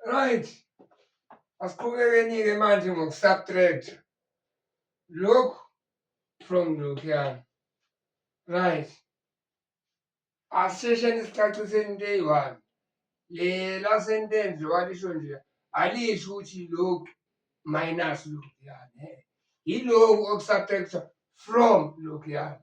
Right. Asiqhubekeni-ke manje ngokusubtract. Look from lokhuyana. Right. Asishesheni isicacise into eyi-one. Le la sentence walisho nje alisho ukuthi look minus lokhuyana. Yiloku okusubtractwa from lokhuyana.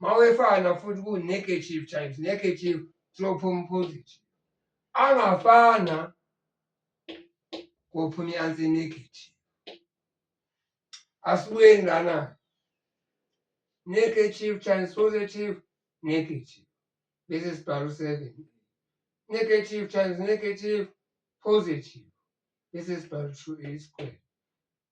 mawefana futhi ku negative times negative siyophuma positive angafana kophuma i-ansi negative asibuyeni lana negative times positive negative bese sibhalo seven negative times negative positive bese sibhalo two a square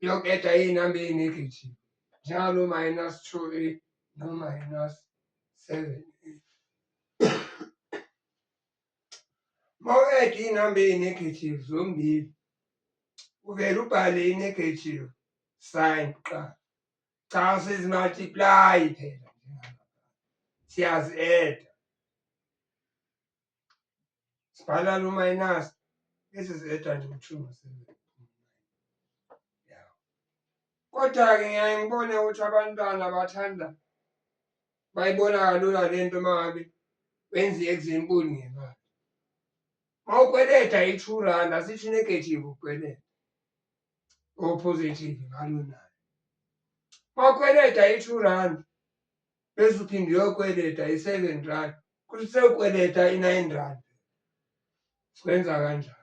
yokueda iy'namba eyi-negative njalo minus two a no-minus seven a uma u-eda iy'namba eyi-negative zombili uvele ubhale i-negative sign kuqala cha sizimultiplayi phela siyazi-eda sibhala lo minus this is eta nje kuthiwa umsebenzi kodwa-ke ngiyaye ngibone ukuthi abantwana bathanda bayibona kalula le nto uma ngabe benza i-example ngemali uma ukweleta i-two rand asithi negative ukweleta opositive ngalonayo uma ukweleta i-two rand bese uthi ngiyokweleta i-seven rand kuthi sewukweleta i-nine rand sikwenza kanjani